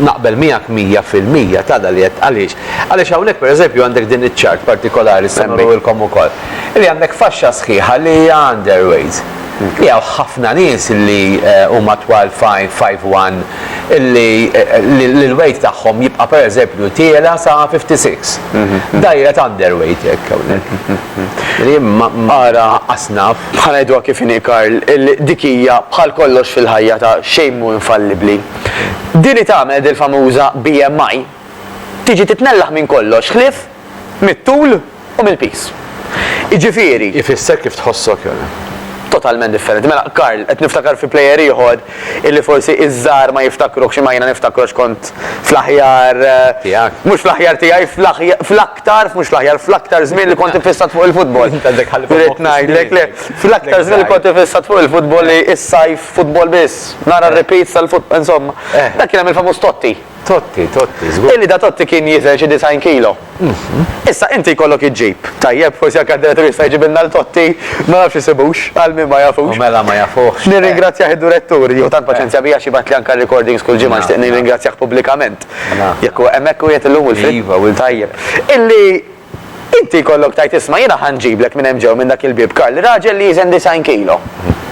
naqbel miegħek mija fil-mija t'għada li qed għaliex? Għaliex hawnhekk pereżempju għandek din iċ-chart partikolari li se nurulkom ukoll, li għandek faxxa sħiħa li hija underweight. Li hawn ħafna nies li huma twal 5'1", li l-weight tagħhom jibqa' pereżempju tiela' sa 56. Dgħajra ta' underweight hekk hawnhekk. Li ara asnaf. Ħa ngħiduha kif inhi Karl, dik hija bħal kollox fil-ħajja ta' xejn mhu infallibbli. Din li tagħmel dil-famuża BMI tiġi titnellaħ minn kollox ħlief mit-tul u mill-piż. Jiġifieri. Ifisser kif tħossok jew. Totalment differenti. Mela, Karl, qed niftakar fi plejer ieħor illi forsi iż-żgħar ma jiftakruhx imma jiena niftakru għax kont fl-aħjar. Tiegħek. Mhux fl-aħjar tiegħi, fl-aktar, mhux fl-aħjar, fl-aktar żmien li kont iffissat fuq il-futbol. Int għandek ħalli fuq il-futbol. Irrid ngħidlek le. Fl-aktar żmien li kont iffissat fuq il-futbol li s-sajf futbol biss. Nara r-repeats tal-futbol, insomma. Dak kien hemm il-famuż Totti. Totti, Totti, żgur. Illi da Totti kien jiżen xi disgħin kilo. Issa inti jkollok iġġib, tajjeb, forsi anke d-direttur jista' jġibilna 'l Totti, ma nafx isibux, għal min ma jafux. U mela ma jafuhx. Nirringrazzjah id-durettur, jieħu tant paċenzja bija għax jibgħatli anke r-recordings kull ġimgħa, nixtieq nirringrazzjah pubblikament. Jekk hu hemmhekk qiegħed illum u l-fri. Iva, u l-fri. Tajjeb. Illi. Inti jkollok tgħid isma' jiena ħa nġiblek minn hemm ġew minn dak il-bieb Karl, raġel li jiżen disgħin kilo.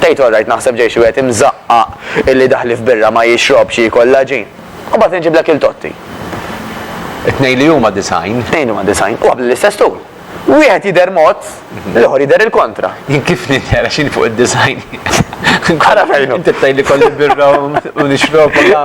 Tgħid orrajt naħseb ġej xi wieħed imżaqqaq illi daħli f'birra ma jixrobx jiekol l-għaġin. U mbagħad inġiblek il Totti. It-tnejn li huma disgħin. It-tnejn li huma disgħin. U għa bl-istess tul. Wieħed jidher mod. L-ieħor jidher il-kontra. Jien kif nidher għax jien fuq id-design. Ara fejn hu. Inti tgħidli kolli birra u nixrob u la.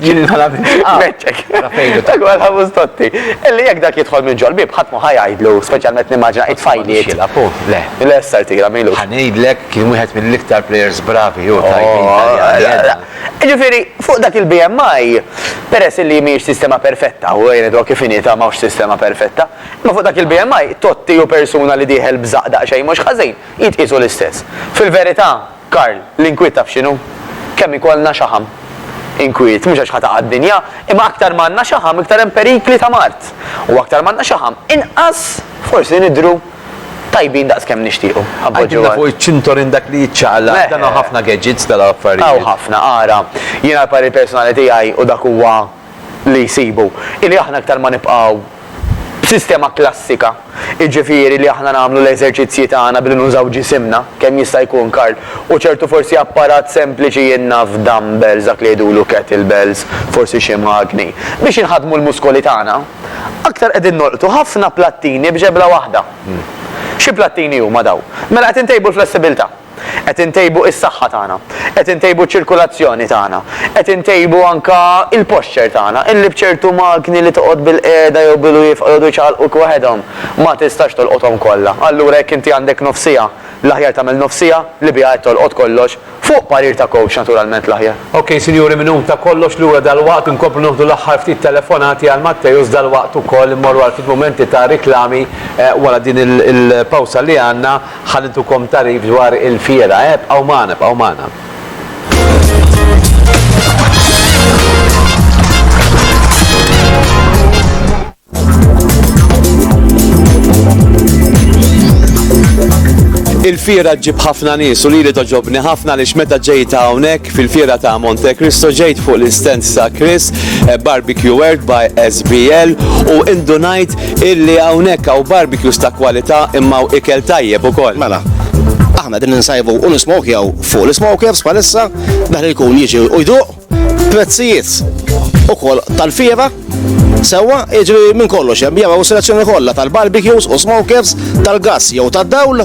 Jien inħala minn xaqqa. Meċċek. Ara fejn hu. Dak huwa l-ħamus totti. Illi jekk dak jidħol minn ġol-bieb ħadd mhu ħa jgħidlu, speċjalment nimmaġina it-tfajliet. Xilha pu, le. Le sar tira milu. Ħa ngħidlek kien wieħed mill-iktar players bravi hu tajbin tal-jadda. Ġifieri, fuq dak il-BMI, peress illi mhijiex sistema perfetta, u jien id-dwa kif inhi ta' m'hawnx sistema perfetta, Imma fuq dak il-BMI, Totti u persuna li dieħel b'żaqq daqsxejn mhux ħażin, jitqiesu l-istess. Fil-verità, Karl, l-inkwiet taf x'inhu? Kemm ikollna xaħam. Inkwiet, mhux għax ħa taqa' d-dinja, imma aktar ma għandna xaħam iktar hemm perikli ta' mard. U aktar ma għandna xaħam, inqas forsi nidhru tajbin daqs kemm nixtiequ. Għidilna fuq iċ-ċintorin dak li jiċċaqlaq, dan hawn ħafna gadgets tal-affarijiet. Hawn ħafna, ara, jiena l-parir personali tiegħi u dak huwa, li jsibu hi li aħna iktar ma nibqgħu b'sistema klassika, jiġifieri li aħna nagħmlu l-eżerċizzji tagħna billi nużaw ġisimna, kemm jista' jkun Karl, u ċertu forsi apparat sempliċi jien naf dumbbells dak li jgħidulu kettlebells, forsi xi magni, biex inħaddmu l-muskoli tagħna, aktar qegħdin nolqtu ħafna plattini b'ġebla waħda. Xi plattini huma dawn? Mela qed intejbu l-flessibilità. Qed intejbu is-saħħa tagħna. Qed intejbu ċ-ċirkulazzjoni tagħna. Qed intejbu anke l-posture tagħna. Illi b'ċertu magni li toqgħod bilqiegħda jew bilwieqfa jqogħdu jċaqalquk waħedhom, ma tistax tolqothom kollha. Allura jekk inti għandek nofs siegħa, l-aħjar tagħmel nofs siegħa li biha qed tolqot kollox, fuq parir ta' coach naturalment l-aħjar. Ok sinjuri minn hu ta' kollox lura dalwaqt inkomplu noħdu l-aħħar ftit telefonati għal Matteus dalwaqt ukoll immorru għal ftit mumenti ta' riklami wara din il-pawsa li għandna. Ħa nitukom tagħrif dwar il-fiera, eh, bqgħu magħna, bqgħu magħna. Il-fira ġib ħafna nies u lili toġobni ħafna li meta ġejt hawnhekk fil-fira ta' Monte Cristo ġejt fuq l-istens ta' Chris eh, Barbecue World by SBL u indunajt illi hawnhekk hawn barbecues ta' kwalità imma hawn ikel tajjeb ukoll. Mela, aħna din insajbu u nismokjaw fuq l-smokers bħalissa, daħli jkun jiġi u jduq prezzijiet ukoll tal-fiera Sewa, iġri minn kollox, hemm jew selezzjoni kollha tal-barbecues u smokers, tal-gas jew tad-dawl,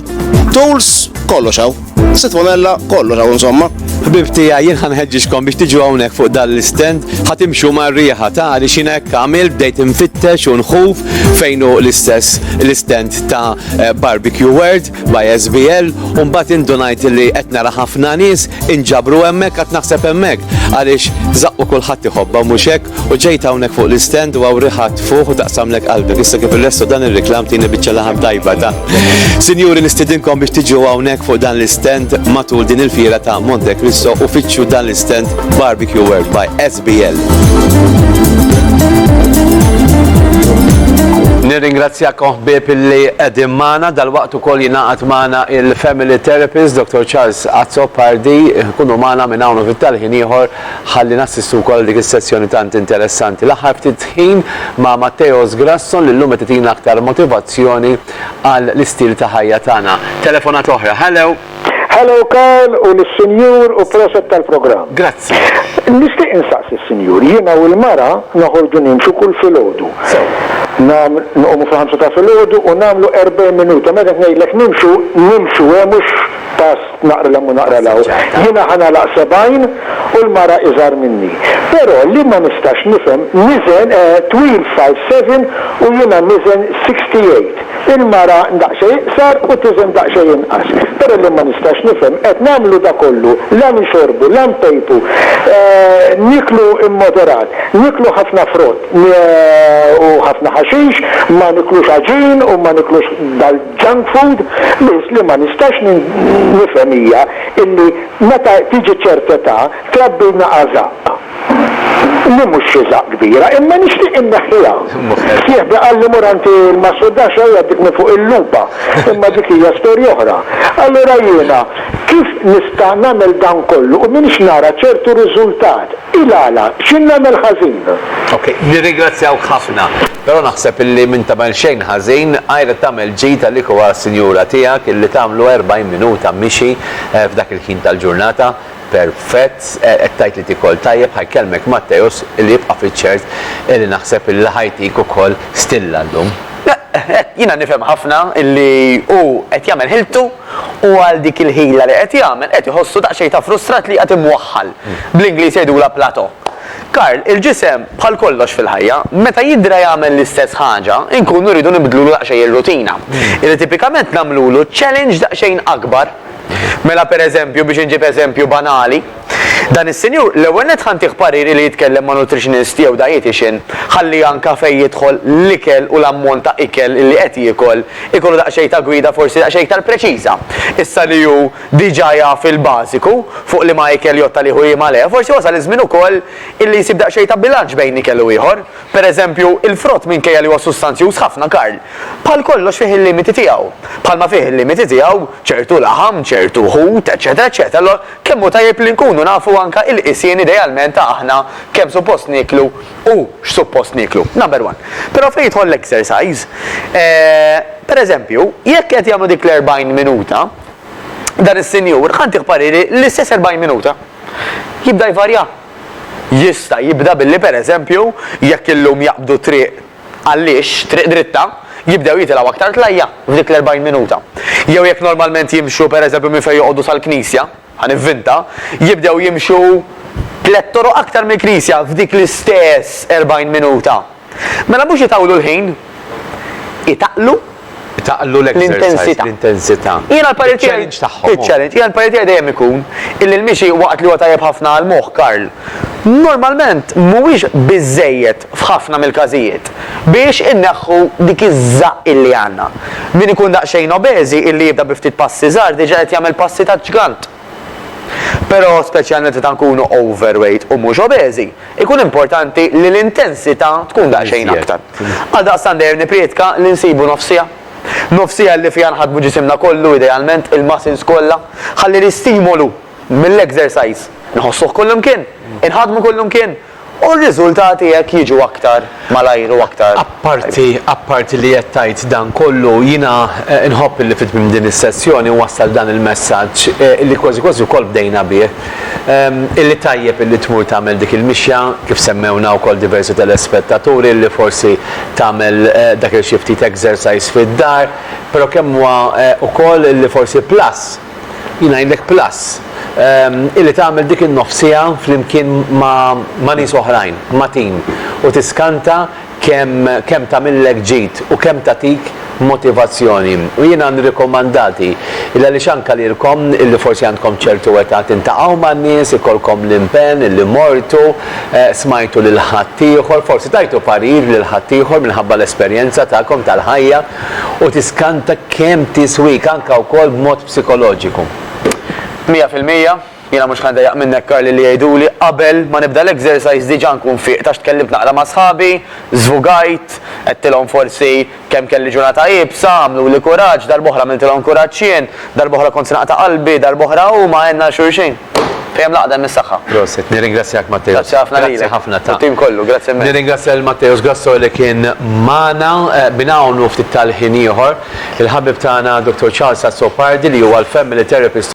tools, kollox hawn. Sitt pomella, kollu raw insomma. Ħbib tija, jien ħanħedġiġkom biex tiġu hawnhekk fuq dan l-istend, ħatimxu mar riħa ta' li xina hekk għamil bdejt infittex u nħuf fejn hu l-istess l-istend ta' eh, Barbecue World by SBL u mbagħad indunajt li qed nara ħafna nies inġabru hemmhekk qed naħseb hemmhekk għaliex zaqqu kulħadd iħobba mhux hekk U ġejt hawnhekk fuq l-istend u hawn riħat fuq u taqsamlek qalbek. Issa kif il-resto dan ir-reklam tieni biċċa laħam tajba ta'. Sinjuri nistidinkom biex tiġu hawnhekk fuq dan l-istend matul din il-fiera ta' Monte Cristo u fittxu dan l-istend Barbecue World by SBL. Nirringrazzjakom ħbieb li qegħdin magħna dal-waqt ukoll jingħaqad magħna il-Family Therapist Dr. Charles Azzopardi, kunu magħna minn hawn u fit-talħin ieħor Ħalli nassistu wkoll għal dik is-sessjoni tant interessanti l-aħħar ftit ħin ma' Matteos Grasson li llum qed itina aktar motivazzjoni għal l-istil ta' ħajja tagħna. Telefonata oħra. Hello! Hello Karl u lis-Sinjur u proset tal-programm. Grazzi. Nixtieq insaqsi s-Sinjur, jiena u l-mara noħorġu nimxu kull filgħodu. Sew. Nam nqumu fil-ħamsa ta' filgħodu u nagħmlu 40 minuta. Meta qed ngħidlek nimxu, nimxu hemm mhux pass Naqra 'l hemm u naqra 'l hawn. Jiena ħa nagħlaq sebgħin u l-mara iżgħar minni. Però li ma nistax nifhem, niżen twil five seven u jiena niżen sixty eight. Il-mara daqsxejn iqsar u tiżen daqsxejn inqas. Però li ma nistax nifhem, qed nagħmlu da kollu, la nixorbu, la npejpu, nieklu immoderat, nieklu ħafna frott u ħafna ħaxix, ma niklux għaġin u ma niklux Junk food? Biss li ma nistax nifhem hija illi meta tiġi ċert età trabbilna għażaqq. Li mhux xi żaqq kbira, imma nixtieq inneħħiha. Sieħbi qalli mur għand il-massudax u jgħaddik minn fuq il-lupa, imma dik hija storja oħra. Allura jiena kif nista' nagħmel dan kollu u m'iniex nara ċertu riżultat? Il-għala? X'in nagħmel ħażin? Ok, nirringrazzjawk ħafna. Però naħseb illi m'int tagħmel xejn ħażin għajr li tagħmel ġid għalik u għas-sinjura tiegħek illi tagħmlu 40 minuta mixi f'dak il-ħin tal-ġurnata perfett qed tgħid li tikol tajjeb ħa jkellmek Matteus illi jibqa' fiċ-ċert illi naħseb illi ħa jtik ukoll stilla llum. Hekk, jiena nifhem ħafna illi hu qed jagħmel ħiltu u għal dik il-ħila li qed jagħmel qed iħossu daqsxejn ta' frustrat li qiegħed imwaħħal. Bl-Ingliż jgħidulha plateau. Karl, Il-ġisem, bħal kollox fil-ħajja, meta jidra jagħmel l-istess ħaġa, inkunu rridu nibdlulu daqsxejn ir-rutina. Illi tipikament nagħmlulu challenge daqsxejn akbar. Mela pereżempju, biex inġib eżempju banali, dan is-sinjur l-ewwel nett ħa ntih parir illi jitkellem ma' nutritionist jew dietician ħalli anka fejn jidħol l-ikel u l-ammont ta' ikel illi qed jiekol ikollu daqsxejn ta' gwida forsi daqsxejn iktar preċiża. Issa li hu diġà jaf il-bażiku fuq liema ikel jotta li hu jiem għaleh, forsi wasal iż-żmien ukoll illi jsib daqsxejn ta' bilanċ bejn ikel u ieħor. Per eżempju, il-frott minkejja li huwa sustanzjuż ħafna, Karl, bħal kollox fih il-limiti tiegħu. Bħalma fih il-limiti tiegħu ċertu laħam, ċertu ħut, eċċetera, eċċetera. Allura, kemm hu tajjeb li nkunu nafu anke il-qisien idealment ta' aħna kemm suppost nieklu u x'suppost nieklu. Number one. Però fejn jidħol l-exercise, eh, per eżempju, jekk qed jagħmlu dik l-40 minuta, dan is-sinjur ħa ntih pariri l-istess 40 minuta. Jibda jvarja. Jista' jibda billi pereżempju jekk illum jaqbdu triq għal-lixx, triq dritta, jibdew jitilgħu aktar tlajja' f'dik l-40 minuta. Jew jekk normalment jimxu pereżempju minn fejn joqogħdu sal-knisja, ħa nivvinta, jibdew jimxu tliet toroq aktar mill-knisja f'dik l-istess 40 minuta. Mela mhux itawlu l-ħin, itaqlu. Itaqlu l-exercise, l-intensità. Jiena l-parir tiegħi. Iċ-challenge tagħhom. Iċ-challenge. Jiena l-parir tiegħi dejjem ikun illi l-mixi waqt li huwa tajjeb ħafna għall-moħħ, Karl, normalment mhuwiex biżżejjed f'ħafna mill-każijiet biex inneħħu dik iż-żaqq illi għandna. Min ikun daqsxejn obeżi illi jibda bi ftit passi żgħar diġà qed jagħmel passi taġ-ġgant. Però, speċjalment meta nkunu overweight u mhux obeżi, ikun importanti li l-intensità tkun daqsxejn aktar. Għaldaqstant dejjem nipprietka li nsibu nofs siegħa. Nofs siegħa li fiha nħaddmu ġisimna kollu, idealment, il-muscles kollha, ħalli l-istimolu mill-exercise nħossuh kullimkien, inħaddmu kullimkien, U r-riżultati hekk jiġu aktar malajr u aktar. Apparti, apparti li qed tgħid dan kollu, jiena nħobb illi fi tmiem din is-sessjoni nwassal dan il-messaġġ, illi kważi kważi wkoll bdejna bih, illi tajjeb illi tmur tagħmel dik il-mixja, kif semmewna wkoll diversi telespettaturi, illi forsi tagħmel dak il-xi ftit exercise fid-dar, però kemm huwa wkoll illi forsi plus, Jien ngħidlek plus, illi tagħmel dik in-nofs siegħa flimkien ma' nies oħrajn, ma' team, u tiskanta kemm kemm tagħmillek ġid u kemm tagħtik motivazzjoni. U jiena nirrikomandati, illi għaliex anke lilkom illi forsi għandkom ċertu età tintaqqgħu man-nies, ikollkom l-impenn illi mortu, smajtu lil ħaddieħor, forsi tajtu parir lil ħaddieħor minħabba l-esperjenza tagħkom tal-ħajja, u tiskanta kemm tiswik anke wkoll b'mod psikoloġiku. Mija fil-mija, jiena mhux ħa ndejjaq minnek Karli li jgħiduli qabel ma nibda l-exercise diġa nkun fieqt għax tkellimt naqra ma' sħabi, żvugajt, għedtilhom forsi kemm kelli ġurnata iebsa, għamluli kuraġġ, darb'oħra għamiltilhom kuraġġ jien, Darb'oħra kont se naqta' qalbi, darb'oħra huma għenna għal xulxin. Fejn hemm l-għaqda hemm is-saħħa. Prosit, nirringrazzjak Matteus. Grazzi ħafna lilek. Grazzi ħafna ta. U t-tim kollu, grazzi immens. Nirringrazzja lil Matteus Grasso li kien magħna minn hawn u ftit tal-ħin ieħor. Il-ħabib tagħna Dottor Charles Azzopardi li huwa l-Family Therapist.